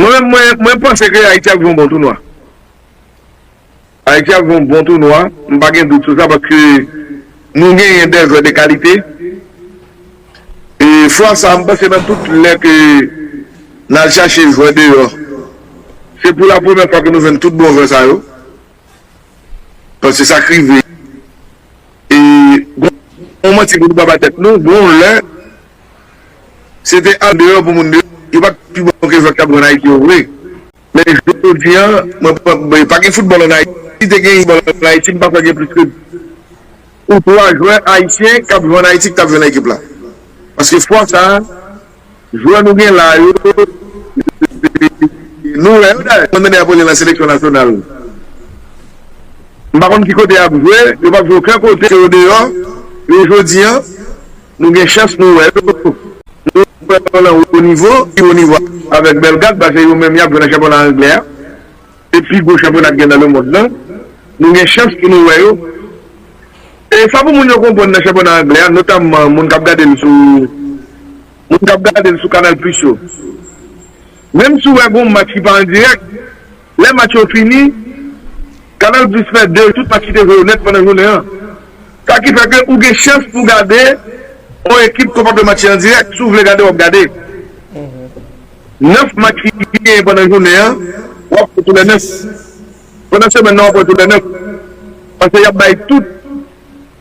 Mwen menm mwen panse ke Ayiti ap jwe yon bon tounwa. Ayiti ap jwe yon bon tounwa, m pa gen dout sou sa paske nou genyen dè jwè de kalite. E fwa sa m panse nan tout lè ke n al chache jwè deyò, se pou la premyè fwa ke nou jwenn tout bon jwè sa yo. Paske sa k rive e gon yon manti pou nou pa bay tèt nou, gon yon lè Se te andeyò pou moun de yo pat pi bon ke zòt kap jwe an Ayiti yo vre men jodi an mwen pran pa gen foutbòl an Ayiti si te gen foutbòl an Ayiti m pa kwè gen plis ke 2 ou 3 jwè ayisyen kap jwe an Ayiti ki tap jwe nan ekip la paske fwa sa jwè nou gen la yo se nou wè yo dayè mwen tande yap rele nan seleksyon nasyonal m pa konn ki kote yap jwe yo pap jwe oken kote se odeyò yo jodi an. Nou gen chans nou wè yo. Nou wè yo nan wo nivo, pi wo nivo avèk Belgad, pase yo menm y ap jwe nan chanpyona anglè a, se pi gwo chanpyona ki gen nan lemonn nan. Nou gen chans pou nou wè yo. E sa pou moun yo konprann nan chanpyona anglè a, notamman moun k ap gade l sou moun k ap gade l sou Canal Plus yo, menm si w wè gen yon match ki pa an dirèk, Lè match yo fini, Canal Plus fè de tout match ki te jwe yo nèt pandan jounen an. Sa ki fè ke ou gen chans pou gade on ekip ke w pa t wè match li an dirèk. Si w vle gade, w ap gade 9 match ki genyen pandan jounen an, w ap wè tou lè 9. Pandan semèn nan w ap wè tou lè 9. Paske y ap bay tout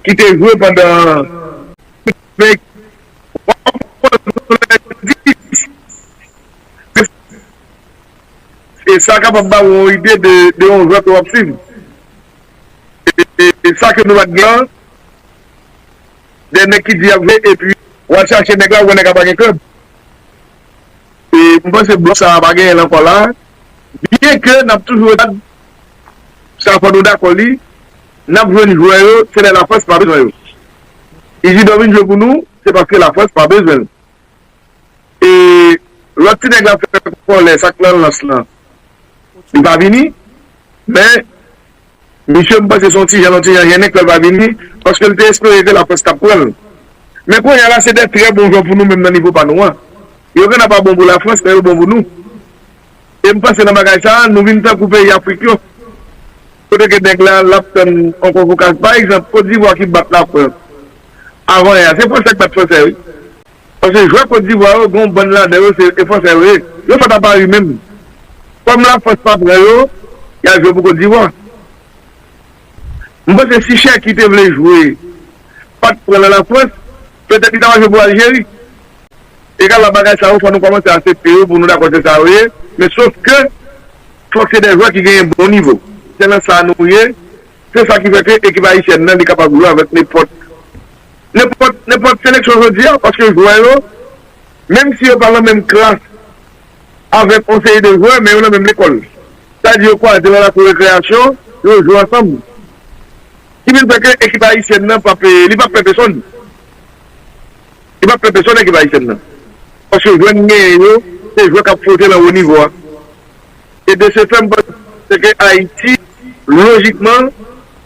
ki te jwe pandan semèn an. e sa kapab ba ou yon ide de yon jwè ke w ap swiv. E sa ke nou pa t gen an, de nèg ki di y ap jwe epi w al chache nèg la, ou wè nèg la pa gen klèb. E m panse blòf sa a pa genyen l ankò la a, byen ke n ap toujou wè, sa fò nou dakò li, n ap jwenn jwè yo, se lè Lafrans pa bezwen yo. Izidò vin jwe pou nou, se paske Lafrans pa bezwen l. E lòt ti nèg la fè kòlè sak nan lans lan li pa vini men misye m panse son ti jan yon ti jan jennen kèl pa vini paske l te espere ke laprès tap pranl men kounye a la se de trè bon jwè pou nou menm nan nivo pa nou an yo genna pa bon pou lafrans men yo bon pou nou e m panse nan bagay sa nou vin tankou peyi afrik yo kote ke nèg la lap tann yon konvokasyon pa egzanp Cote d'Ivoire ki bat lafrans avan yè a se fransè ki bat fransè wi Paske jwè Kot Divwa yo gen yon bann ladan yo se Fransè yo ye. Yo sot a Pari menm. Kòm la Frans pa pran yo, y al jwe pou Kot Divwa. M panse si Cherki te vle jwe pat pran nan la Frans, petèt li ta va jwe pou Aljeri. Egal la bagay sa yo fò nou kòmanse asepte yo pou nou dakò se sa yo ye, men sof ke fòk se de jwè ki genyen bon nivo. Se nan sa nou ye. Se sa ki fè ke ekip Ayisyèn nan li kapab jwe avèk nenpòt. Nenpòt seleksyon jodi a, paske jwè yo, menm si yo pa nan menm klas avèk yon seri de jwè, men yo nan menm lekòl. Sa di yo kwaze nan lakou rekreyasyon, yo jwe ansanm. Ki vin fè ke ekip ayisyèn nan pap, li pap pè pesonn. Li pap pè pesonn ekip ayisyèn nan. Paske jwè n genyen yo, se jwè k ap fwote nan wo nivo a. E de se fè m panse ke Ayiti, lojikman,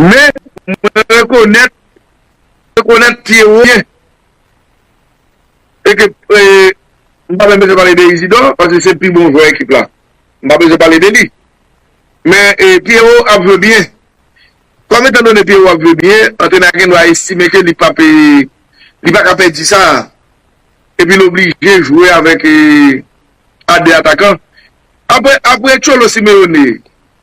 Men, mwen rekonèt, rekonèt ti ewo m ye. E ke, m pa menm bezwen pale de Izidò, paske se pi bon jwè ekip la. M pa bezwen pale de li. Men, ti ewo ap jwe byen. Kòm etan done ti ewo ap jwe byen, antrenè a gen dwa estime ke li pa pe, li pa ka pèdi sa a. E pi l oblije jwe avèk a 2 atakan. Apre, apre Cholo Simeone,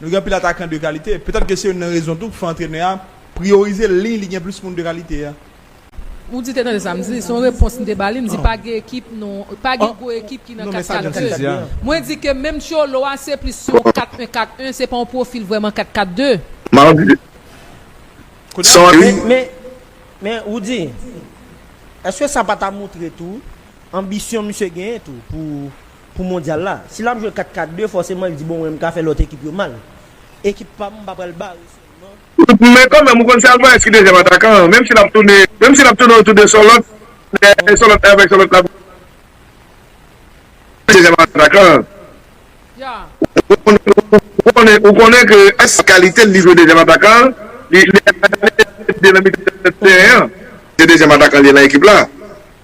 Nou gen anpil atakan de kalite. Petèt ke se youn nan rezon tou ki fè antrenè a priyorize liy li gen plis moun de kalite a. Ou di te tande sa m di? Se yon repons m te ba li. M di pa gen ekip non. Pa gen gwo ekip ki nan 4 4 2. Mwen di ke menm Cholo a se plis yon 4 1 4 1. Se pa yon pwofil vrèman 4 4 2. Mardi, Sorry. Men, Roody, èske sa pa ta montre tou anbisyon misye genyen tou pou. pou mondyal la. Si lap jwe 4 4 2 fòseman li di bon mwen mka fè lòt ekip yo mal. Ekip pam mpa pral bare sèlman. Men kanmenm ou konn se Alvarez ki dezyèm atakan an menm si lap toune menm si lap toune otou de Sòlòt men Sòlòt avèk Sòlòt lap jwe dezyèm atakan an ou konnen ou konnen ke se kalite l li jwe dezyèm atakan an li ale nan mitan tèren an se dezyèm atakan li ye nan ekip la.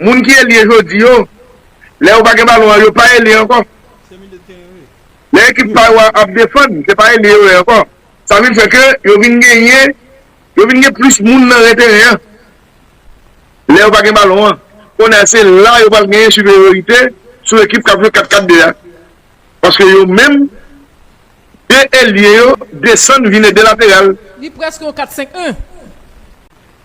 Moun ki elye jodi yo, lè yo pa gen balon an, yo pa elye ankò. Lè ekip pa yo ap defann, se pa elye yo ye ankò. Sa vin fè ke yo vin genyen, yo vin gen plis moun nan ren teren an. Lè yo pa gen balon an. Konè a se la yo pral genyen siperyorite sou ekip k ap jwe 4 4 2 a. Paske yo menm, 2 elye yo desann vin ede lateral. Li prèske yon 4 5 1.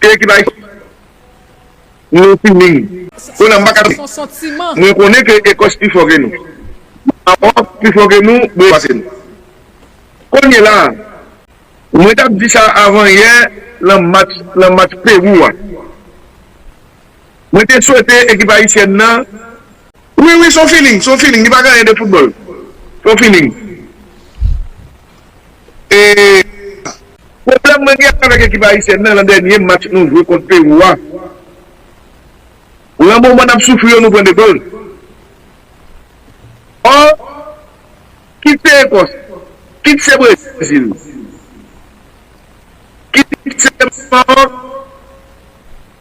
Kiyè ki bay nou feeling? Kounye a m pa ka tann. Mwen konnen ke Ekòs pi fò ke nou. Marò pi fò ke nou, Brezil pase nou. Kounye la a, mwen t ap di sa avan yè lan match lan match Pérou a. Mwen te swete ekip ayisyèn nan. Wi wi s on feeling, s on feeling li pa gen anyen de foutbòl. S on feeling. Pwoblèm mwen gen avèk ekip ayisyèn nan, lan dènye match nou jwe kont Pewou a, lan moman n ap soufri yo nou pran 2 gòl. Ò, kit se Ekòs, kit se Brezil, kit se Maròk,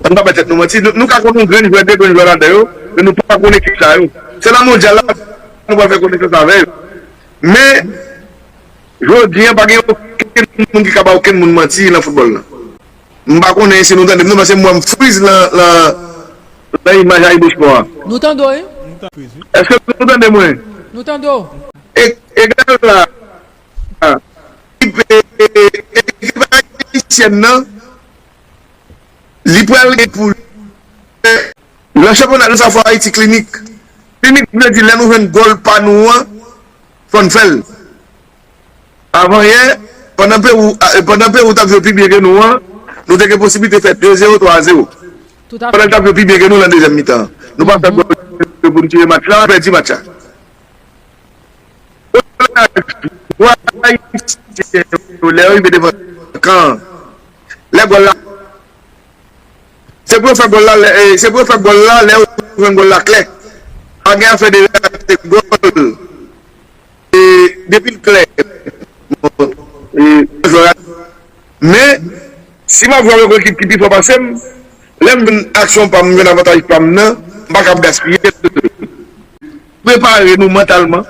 An n pa bay tèt nou manti, nou ka konn yon grenn jwè, 2 grenn jwè ladan yo, men nou pa konn ekip sa yo. Se nan Mondyal la nou pral fè konesans avè yo. Men, jodi an pa gen okenn moun ki ka bay okenn moun manti nan foutbòl la. M pa konnen si nou tande m non, paske m wè m friz nan imaj AyiboSport a. Nou tande w wi. Èske nou tande mwen? Nou tande w. Egal la, ekip ayisyèn nan. li pral gen pou l fè nan chanpyona gras a fò Ayiti klinik. Klinik vle di lè nou jwenn gòl pa nou an fò n fè l. Avanyè, pandan Pewou pandan Pewou t ap jwe pi byen ke nou an, nou te gen posiblite fè 2 zewo, 3 zewo. Pandan l t ap jwe pi byen ke nou nan dezyèm mitan an. Nou pa fè gòl yo pou n tire match la, nou pèdi match la. Koulaj pou Ayisyen yo lè yo rive devan kan an. lè gòl la se pou yo fè gòl la lè se pou yo fè gòl la lè yo jwenn gòl la klè pa gen afè de rate gòl e depi l klè bon e yon jwè rate men si m ap jwe avèk yon ekip ki pi fò pase m lè m jwenn aksyon pa m m jwenn avantaj pa m nan m pa ka ap gaspiye l prepare nou mantalman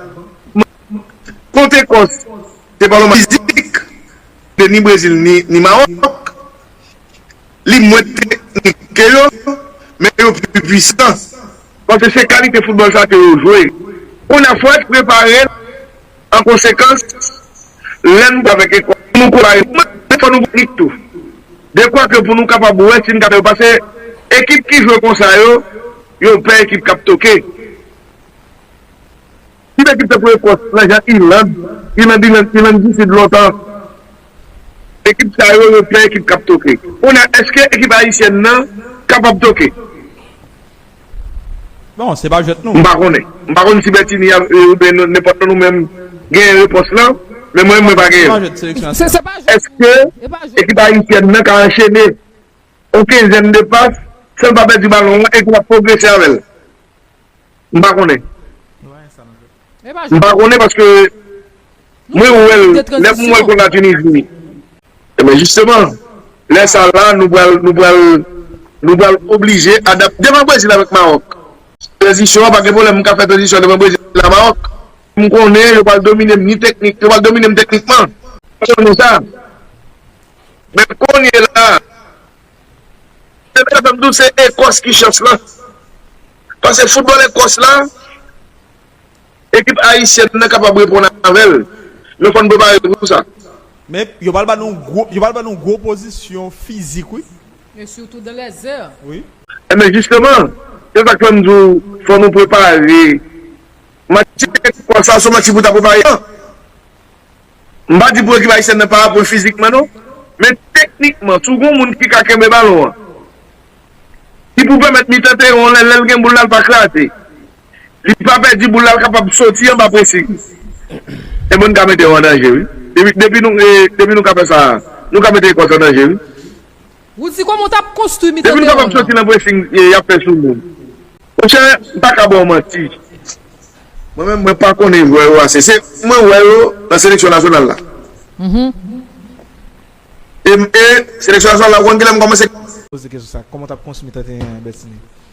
konte kò se pa lòman fizik. de ni Brezil ni Mawòk, li mwen teknik ke yo, men yo pi pwisan, paske se kalite foutbòl sa ke yo jwe. Kounye a, fò n prepare n an konsekans, lè n avèk Ekwatè, pou nou konpare nou, men fò nou gen teknik tou, dekwa ke pou nou kapab wè si n ka fè yo, paske ekip ki jwe konsa yo, yo pè ekip k ap toke. Kit ekip tankou Ekòs lan jan Iland, Iland Iland, Iland di Sid lontan. Ekip sa yo, yo pè ekip k ap toke. Kounye a, èske ekip ayisyèn nan kapab toke? Bon, se pa jwèt nou. M pa konnen. M pa konn si Bètini a oubyen nenpòt nan nou menm genyen repons lan, men mwen menm mwen pa genyen l. Èske ekip ayisyèn nan ka anchene yon kenzèn de pas san l pa pèdi balon an e ki ap pwogrese avè l? M pa konnen. M pa konnen paske mwen wè l, lè m wè l konn la Tunisie. Ebyen jisteman, lè sa la nou pral, nou pral, nou pral oblije adapte. Devan Brezil avèk Maròk, tranzisyon an pa gen pwoblèm. M ka fè tranzisyon devan Brezil a Maròk. M konnen yo pral domine m ni teknik, yo pral domine m teknikman. M konnen sa. Men kounye la, Ebyen sa fèm dout se Ekòs ki chans lan. Pase foutbòl Ekòs la, ekip Ayisyèn nan kapab reponn avèl. Men fòn prepare pou sa. Men yo pral ba nou gwo, yo pral ba nou gwo opozisyon fizik wi. E sitou dan lè zè. Ebyen jisteman, se sak fèm di w fò nou prepare. Match Ekòs la se yon match ki pou ta prepare an. M pa di pou ekip ayisyèn nan pa ap pran fizikman non, men teknikman tou gon moun ki ka kenbe balon an, ki pou pèmèt mitan teren an lè l gen boul la l pa kraze, li pa pèdi boul la l kapab soti anba presing. Ebon n ka mete yo an danje wi, depi nou ka fè sa nou ka mete Ecos an danje wi. Rudy koman w tap konstwi mitan Depiw kapab soti nan pressing yap fè sou moun Monchè m paka baw manti mwen menm mwen pa konnen jwè yo ase se mwen wè yo nan seleksyon nasyonal la e seleksyon nasyonal la ou konn kilè m kòmanse poze kesyon sa koman w tap konstwi mitan teren an Bertinie.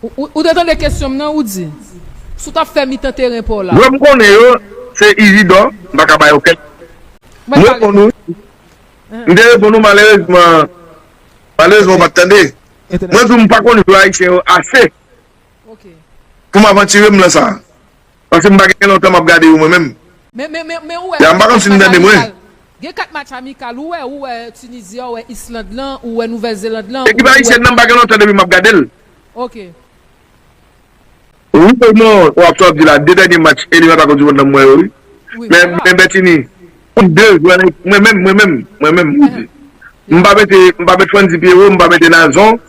Ou te tande kesyon m nan, ou di. Si w t ap fè mitan teren pa w la. Yo m konnen yo, se Izidò, m pa ka ba yo kèk. M reponn ou. M te reponn ou malerezman, malerezman ou pa t tande. Mwen di w m pa konn jou Ayisyen yo ase pou m avantire m lan sa. Paske m pa gen lontan m ap gade yo mwen menm. Men ou wè gen kat match amikal. Gen kat match amikal ou wè, ou wè Tunizi a, ou wè Island lan, ou wè Nouvèl Zeland lan. Ekip Ayisyèn nan m pa gen lontan depi m ap gade l. Ok. Wi ou non, wap sa wap di la, 2 dènye match eliminatwa koup di mond lan m wè yo wi. Men Bètini, pou 2 jwè mwen menm, mwen menm, mwen menm m di, m pa mete, m pa mete Frantzy Pierrot, m pa mete Nazon,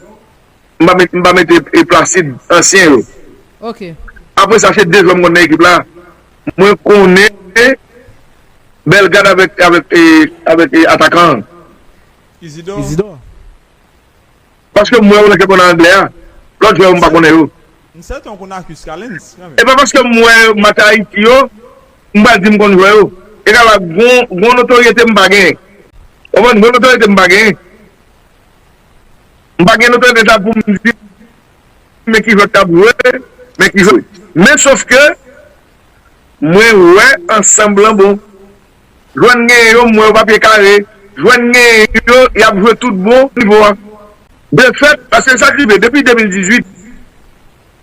m pa mete, m pa mete Placide, ansyen yo. Ok. Apre sa se 2 jwè m konn nan ekip la, mwen konnen Bellegarde avèk, avèk, avèk atakan an. Isidor? Paske m wè ou nan kèk moun nan anglè a. Lòt jwè yo m pa konnen yo. M sèten ou konn Arcus Callens kanmenm. E pa paske m wè match Ayiti yo m pral di m konn jwè yo. E ka ba gon notoryete m pa genyen. Ou konprann? Gon notoryete m pa genyen. M pa gen notoryete sa pou m di men ki jwè k t ap jwe, men ki jwè. Men sofke mwen wè ansanm lan bon. Jwenn genyen yo m wè yo pa pye kare, jwenn genyen yo y ap jwe tout bon nivo a. De fèt, paske sa k rive depi 2018,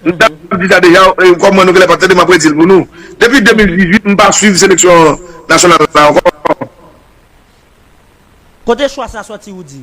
m t ap di sa deja kòm mwen nou genlè pa t tande m ap redi l pou nou, depi 2018 m pa swiv seleksyon nasyonal la ankò. Kote chwa sa sòti Rudy?